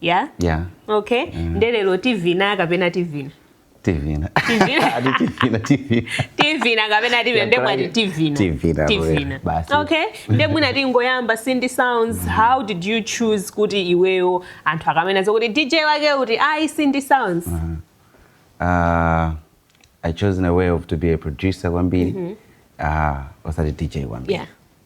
ya yeah. okay mm. nde lero tivina kapena tivina tivina tivina kapena tivine nde mwati tivina tivina okay nde mwina tingoyamba cindy sounds mm. how did you choose kuti iweyo anthu akamena zokuti dj wake kuti ayi cindy sounds uh -huh. uh, i chose in a way of to be a producer kwambiri mm -hmm. uh, osati dj kwambiri yeah.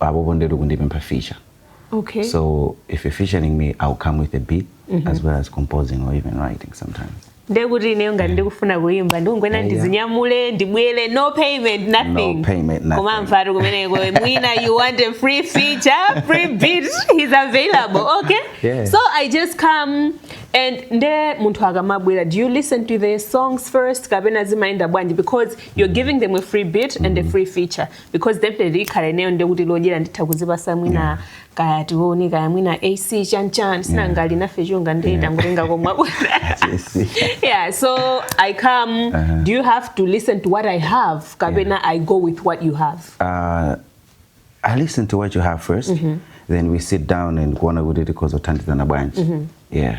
Apopo ndetu kundipempha feature Okay. so if you're featuring me I'll come with a beat as well as composing or even writing sometimes. Ndiye kuti ineyo ngati ndikufuna kuimba ndikungoyena Yeah, yeah. ndizinyamule ndibwere no payment nothing. No payment, nothing. Koma mfatu kumeneko mwina you want a free feature, free beat is available. Okay? Yeah. So I just come and nde munthu akamabwera do you listen to the songs first kapena zimayenda bwanji because you're giving them a free beat and a free feature. because definitely ikhala ineyo nde kuti lodyera nditha kuzipasa mwina yeah. kaya tione kaya mwina ac chanchan sinangali nafe chunga nde tangotenga komwa yeah so i come uh -huh. do you have to listen to what i have kapena yeah. i go with what you have uh, i listen to what you have first mm -hmm. then we sit down and kuona kuti tikhoza kuthandizana bwanji mm -hmm. yeah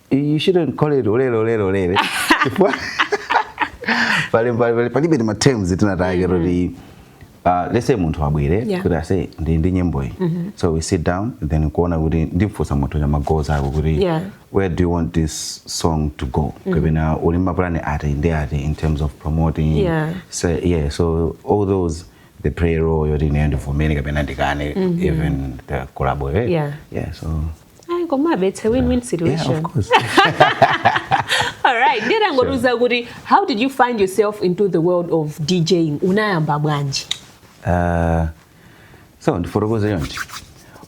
You shouldn't call it ulele ulele ulele. Pali pali pali bene ma terms tinataya mm-hmm. kuti Uh, let's say munthu abwere yeah. kuti aise ndi ndi nyimbo iyi mm -hmm. so we sit down then kuona kuti ndimfunsa munthu za magoals ako kuti yeah. where do you want this song to go mm -hmm. kapena uli mapulani ati ndi ati in terms of promoting yeah. So, yeah so all those they play a role yoti ine ndivomere kapena ndikane mm -hmm. even the collabo eh? yeah. yeah so ayi komabe it's a win-win situation yeah, of course. alright ndiye tangotiuza kuti how did you find yourself into the world of djing unayamba bwanji uh, so ndifotokoze chonchi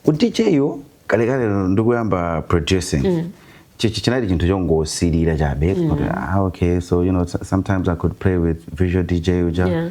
udj wo kalekale ndikuyamba producing mm. chinali chinthu chongosilira chabe mm. ah, okay so you know sometimes i could play with virtual dj uja yeah.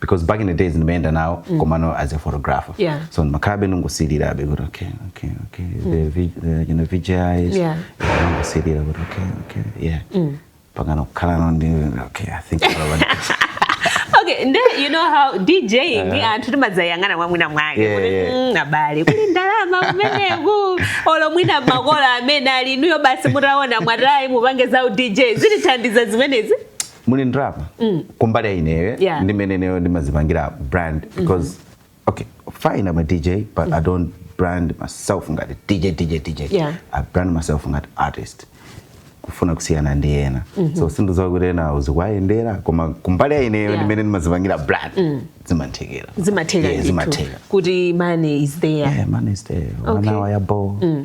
because back in the days ndimayenda nawo mm. komano as a photographer yeah. so ndimakhalabe ndingosilirabe kuti okay okay okay mm. the, v, the you know, vgis yeah. ndingosilira kuti okay okay yeah mm. mpakana kukhala nawo ndi okay i think okay nde you know how djing uh, anthu timadzayang'ana mwa mwina mwake yeah, kuti yeah. Mm, abale kuli ndalama kumeneku olo mwina makolo amene ali inuyo basi mutaona mwatayi mukupanga za udj zikuthandizani zimenezi muli ndrama mm. kumbali ya ineyo yeah. ndi mmene ineyo ndimazipangira brand mm-hmm. because mm -hmm. okay fine I'm a DJ but mm -hmm. I don't brand myself ngati DJ DJ DJ yeah. I brand myself ngati artist kufuna kusiyana ndi ena mm -hmm. so sindidziwa kuti ena zikuwayendera koma kumbali ya ineyo yeah. ndi mmene ndimazipangira brand mm. zimathekera zimathekera yeah, zimathekera kuti money is there yeah, money is there okay. wanawa yabo mm.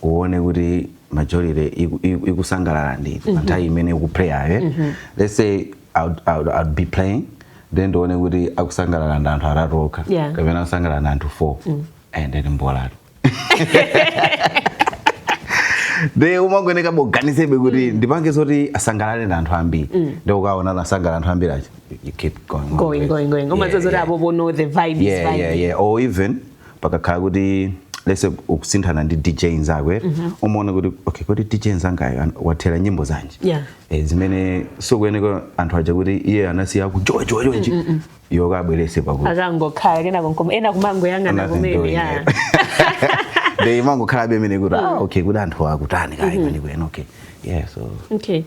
kuona kuti majority ikusangalala ndi pa mhm. nthawi imene ukuplayayo eh? mhm. let's say I'll, be playing then ndione kuti akusangalala ndi anthu atatu okha kapena akusangalala ndi anthu four mm. eh, and then mbolatu de umayeneka uganizebe kuti mm. ndipange zoti asangalale ndi anthu ambiri mm. nde ukaona akusangalala anthu ambiri achi you keep going going going going umadziwa zoti apa pano the vibe is vibe or even pakakhala kuti let's say ukusinthana ndi dj nzako mm -hmm. umaona kuti okay kodi dj nzangayu wathera nyimbo zanji yeah. e, zimene sukuyeneka anthu aja kuti iye anawasiya ku joy joy joy mm -mm. iwe ukabwerese pakuti akangokhala kenako nkumaona kumangoyang'ana kumene ya they imangokhalabe imene kuti ah okay kuti anthu akutani kayi mm -hmm. kwenikweni okay yeah so okay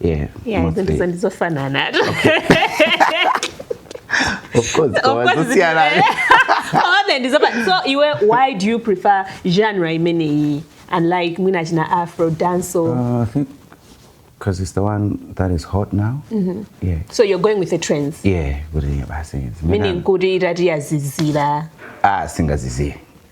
Yeah, Yeah, mostly. ndizo ndizofanana. Of course, Of course, kawazosiana. Only ndizofa- So iwe why do you prefer genre imeneyi unlike mwina china afro dancehall? Uh, I think because it's the one that is hot now. Yeah. So you're going with the trends. Yeah, kuti basi. Meaning kuti itati yazizira. Ah, singaziziye.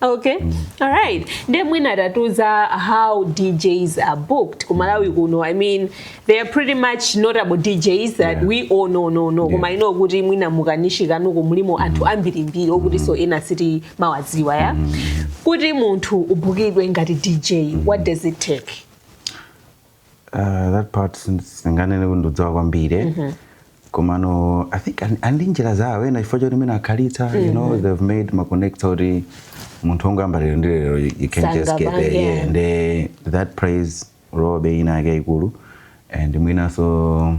okay mm. all right nde mwina tatiuza how djs are booked ku Malawi mm. kuno i mean they are pretty much notable djs that yeah. we all know koma yeah. you know kuti mwina mu community yanuko mulimo mm. anthu ambirimbiri okutinso ena sitimawadziwa ya mm. kuti munthu ubukidwe ngati dj mm. what does it take Uh, that part sindinganene kuti ndikudziwa kwambiri eh? mm-hmm. komano i think ali ndi njira zawo ena chifukwa choti mene akhalitsa mm -hmm. you know mm-hmm. they've made ma connect oti kuti munthu ongoyamba lero ndi lero you can't just get there yeah. yeah. nde that plays role inayake yaikulu and mwinanso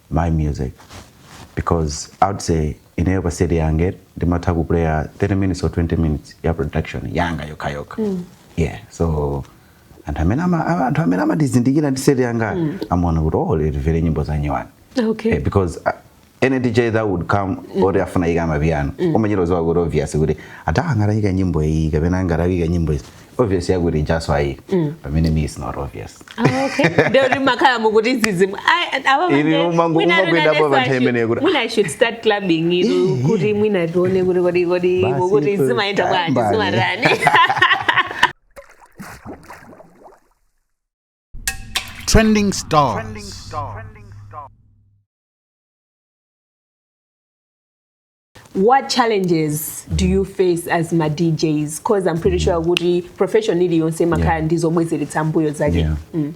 my music because i would say ineyo pa set yanga ndimatha kuplaya 30 minutes or 20 minutes ya production yanga yokhayokha mm. yeah so anthu amene ama- a- anthu amene amandizindikira ndi set yanga mm. amaona kuti oh lero timvere nyimbo za nyuwani Okay. Eh, because uh, any dj that would come mm. oti afuna aike amapiano mm. umachita kudziwa kuti obvious kuti ata angatiyikire nyimbo iyi kapena angatiyikire nyimbo izi obvious ya kuti ijanso ayi mm. pamene mine is not obvious ah, okay ndio ndimakhala ndikuti zizimu ili umangu umakwenda hapo panthe imene kuti mwina i should start clubbing ilu kuti mwina tione kuti kodi kodi mukuti zimaenda bwanji zimatani Trending stuff. Trending stuff. what challenges do you face as ma DJs cause I'm pretty sure kuti profession iliyonse imakhala yeah. ndi zobwezeretsa m'mbuyo zake yeah. mm.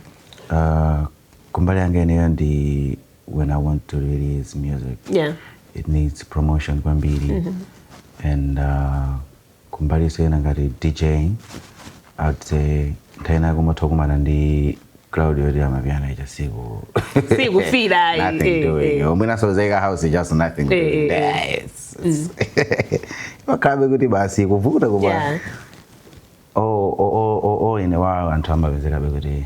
uh, kumbali yanga ineyo ndi when i want to release music yeah. it needs promotion kwambiri mm -hmm. and uh, kumbali zinthu zina ngati DJing, I'd say nthawi ina kumatha kukumana ndi crowd yoti amapiano ija siku Sikufeela, ayi. nothing Eh, doing eh. yo mwinanso waika house just nothing Eh, doing eh, eh. Yes. imakhalabe kuti basi kuvutavuta Yeah. all in all anthu amapezekabe kuti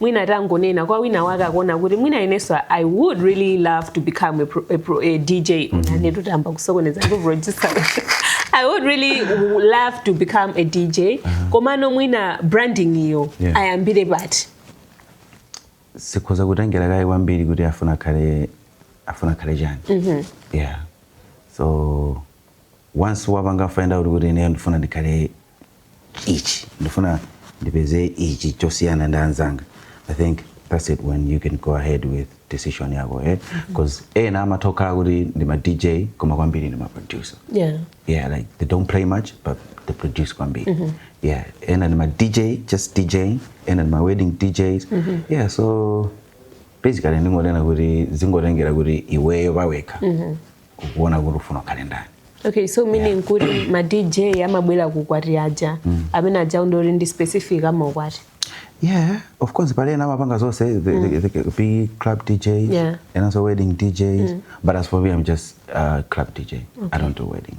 mwina tangonenani kwa wina wake akuona kuti mwina inenso i would really love to become a, pro, a, pro, a dj mwaona ndayamba kusokoneza ndi producer i would really love to become a dj komano mwina branding iyo Yeah. ayambire pati sikhoza kutengera kaye kwambiri kuti afuna akhale afuna akhale chani yeah so once wapanga find out kuti ineyo ndifuna ndikhale ichi ndifuna ndipeze ichi chosiyana ndi anzanga i think that's it when you can go ahead with decision yako eh? because ena amatha kukhala kuti ndi ma dj koma kwambiri ndi ma producer yeah. yeah like they don't play much but they produce kwambiri yeah ena ndi ma dj just dj ena ndi ma wedding djs yeah so basically ndingonena kuti zingotengera kuti iweyo pawekha kukuona kuti ufuna ukhale ndani okay so meaning kuti ma dj amabwera kukwati aja mm. amene aja ndoti ndi specific amaukwati yeah of course pali ena amapanga zonse the, the, mm. the, the big club dj yeah. and also wedding dj mm. but as for me i'm just uh, club dj okay. i don't do weddings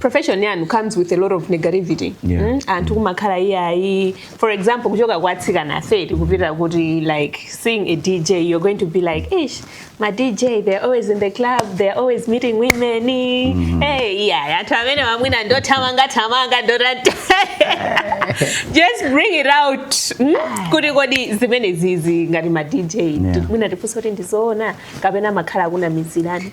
profession yanu comes with a lot of negativity yeah. mm? anthu kumakhala iyayi for example kuchoka kwa atsikana afeti kupita kuti like seeing a dj you're going to be like ish ma dj they're always in the club they're always meeting women mm -hmm. hey yeah anthu amene wamwina ndothamanga thamanga ndotani just bring it out mm? kuti kodi zimenezizi ngati ma dj yeah. mwina tifunse kuti ndizoona kapena amakhala akunamizirani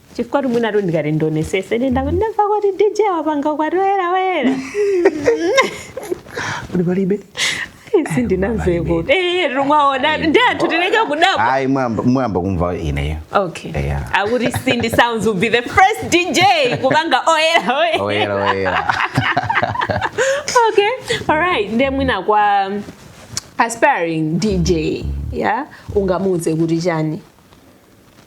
chifukwa mwinatu ndikati ndionesese ndenda kuti ndamva kuti dj wapanga ukwati oyera oyera kuti palibe sindinamveko timawaona ndi anthu tileke kudabwa ayi koyamba koyamba kumva ineyo okay Yeah. akuti cindy sounds will be the first dj kupanga oyera oyera oyera oyera okay alright nde mwina kwa um, aspiring dj ya ungamuuze kuti chani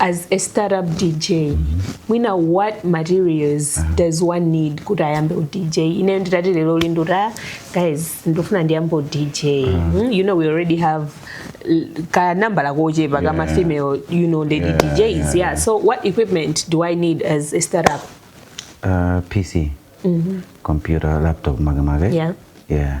as a startup dj mwina what materials uh -huh. does one need kuti ayambe udj ineyo nditati lero lindo ta guys ndofuna ndiyambe udj uh -huh. hmm? you know we already have ka number la koje pa kama yeah. female you know lady yeah, DJs yeah. yeah so what equipment do I need as a startup uh, PC mm -hmm. computer laptop maga maga yeah yeah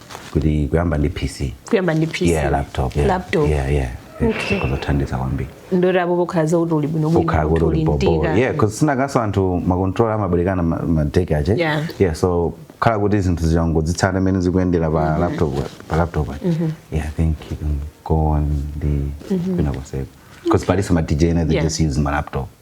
kuti kuyamba ndi pc kuyamba ndi pc yeah laptop yeah laptop yeah yeah okay izo zothandiza kwambiri ndoti apo pokhala zakuti uli bwino bwino kuti uli mtika yeah because zinazakenso anthu makontrola amabwerekana madeki ache yeah. yeah so khala kuti zinthu zija ngozitsata mmene zikuyendera pa mm-hmm. laptop pa laptop mm-hmm. yeah i think you can go on the mm-hmm. kwina konseko because palinso ma dj ena they just use ma laptop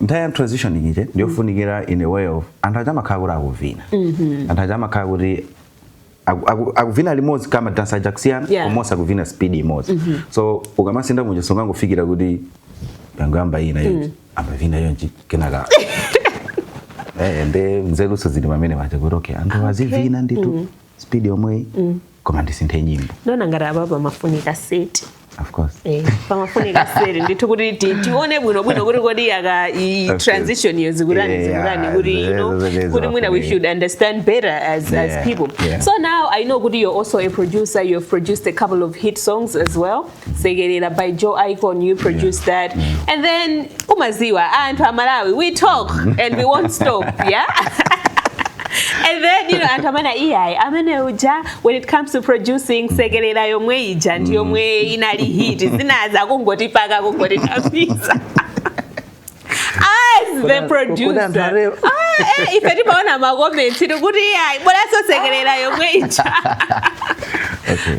nthawi ya transition ije ndiyofunikira in a way of anthu aja amakhala kuti akuvina mm-hmm. anthu aja amakhala kuti akuvina limodzi kama dansa aja kusiyana yeah. koma onse akuvina speed imodzi mm-hmm. so ukamasintha muja sungangofikira kuti yangoyamba ina yo mm. ambavina yonjayi kenaka eh, nde luso lili pamene paja kuti okay anthu azivina nditu mm-hmm. speed yomweyi mm. koma ndisinthe nyimbo ndona ngati apa pamafunika seti of course eh, pamafunika seti ndithu kuti ti- tione bwino bwino kuti kodi aka i Okay. transition iyo zikutani Yeah, zikutani kuti you know zero, zero, kuti mwina we zero. should understand better as, Yeah, as people yeah. so now i know kuti you're also a producer you've produced a couple of hit songs as well sekelera by joe icon you produce that and then umaziwa anthu a malawi we talk and we won't stop yeah and then you know anthu amene iyayi amene uja when it comes to producing sekelera yomwe ija ndi yomwe inali hit zinazo kungotipaka kungotitapisa the producer ah, eh, ife timaona makomenti tikuti ayi bola sosekerera yomwe ija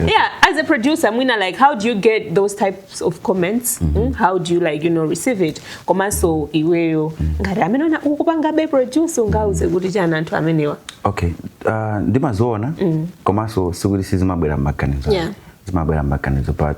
yeah as a producer mwina like how do you get those types of comments mm -hmm. how do you like you know receive it komanso iweyo mm. ngati amene ona ukupangabe produce ungauze kuti chani anthu amenewa okay uh, ndimaziona mm. komanso sikuti sizimabwera mmaganizo yeah. zimabwera mmaganizo but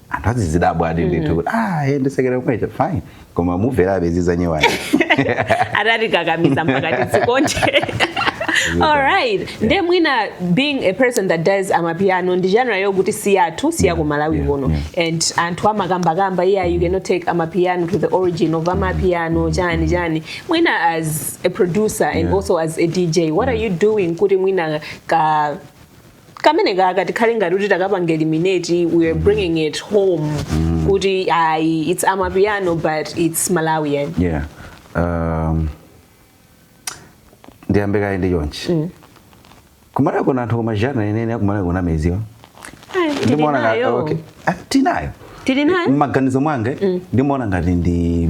anthu azizidabwadi ndithu mm. kuti ah eh, ndisekera kwecha fine koma mumverabe izi zanyuwani adatikakamiza mpaka tizikonde alright nde mwina being a person that does amapiano ndi genre yokuti si yathu si ya ku malawi kuno and anthu amakambakamba iya you cannot take amapiano to the origin of amapiano chani chani mwina as a producer and also as a dj what are you doing kuti mwina ka kamene kaka tikhale ngati kuti takapanga eliminate we are bringing it home kuti ayi its amapiano but its malawian yeah um, ndiyambe kaye ndi chonchi mm. kumalawi kuno anthu koma jana inene akumalawi kuno meziwa ndimaona tinayo tili nayo mmaganizo mwanga mm. ndimaona ngati ndi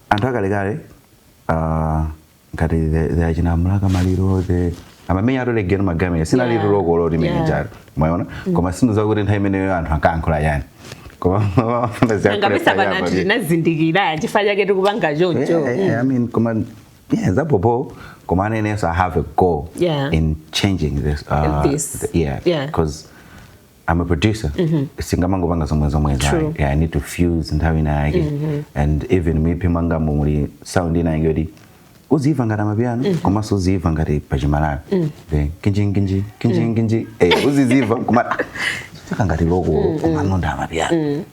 anthu akalekale uh, ngati the achina mlaka maliro the amamenya atole geno magamira sina yeah. lilo lokolo limene yeah. njalo mwaona mm. koma sindidziwa kuti nthawi imeneyo anthu ankayankhula chani ngapesa pana tinazindikira chifukwa chake tikupanga choncho mm. koma yeah, zabhobho koma nanenso i have a goal yeah. in changing this, uh, this. The, yeah because yeah. I'm a producer. Mm -hmm. Singamango banga zomwe zomwe zai. Yeah, I need to fuse nthawi na yake. Mm -hmm. And even me pima nga mumuli sound ina yake odi. Uzi ifa ngata mapiano, mm -hmm. koma so uzi ifa ngati pachimalayo. Mm -hmm. Then, kinji, kinji, kinji, mm -hmm. kinji. Eh, uzi ifa, kuma. Fika ngati loko, mm -hmm. koma nonda mapiano. Mm -hmm.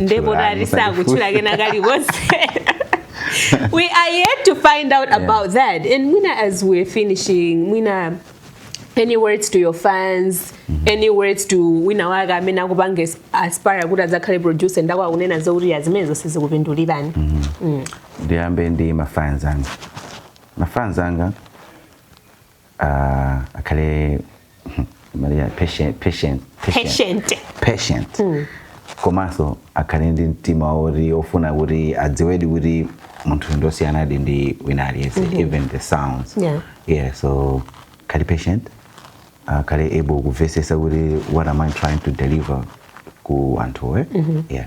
ndipo tati sakutchula kena kalikonse we are yet to find out yeah. about that and mwina as we're finishing mwina any words to your fans mm -hmm. any words to wina wake amene akupanga aspire kuti adzakhale producer nde akwawo akunena zokuti ayi zimene zonse zikupindulirani mm -hmm. mm. ndiyambe ndi mafans anga mafans anga uh, akhale patient komanso akhale ndi mtima woti ofuna kuti adziwedi kuti munthu ndosiyanadi ndi wina aliyense even the sounds Yeah. yeah so akhale patient akhale able kumvesesa kuti what am i trying to deliver ku anthuwa yeah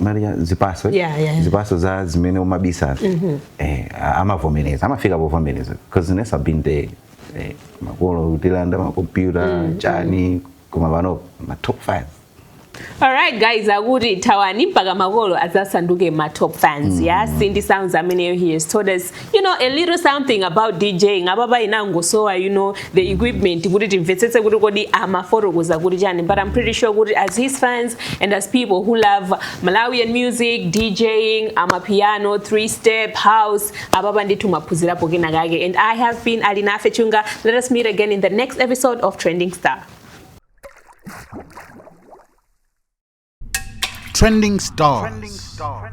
Maria zipaso eh? Yeah, yeah. zipaso za zimene umabisa eh, a- amavomereza amafika povomereza because nanenso i have been there eh, makolo kutilanda makompyuta chani koma pano ma top fan alright guys akuti thawani mpaka makolo adzasanduke ma top fans yeah cindy sounds ameneyo he has told us you know a little something about DJing ababa inangosowa you know the mm-hmm. equipment kuti timvetsetse kuti kodi amafotokoza kuti chani but I'm pretty sure kuti as his fans and as people who love Malawian music DJing ama piano three step house ababa ndithu maphunzirapo kena kake and I have been Alinafe Chunga let us meet again in the next episode of Trending Star Trending Stars. Trending Stars.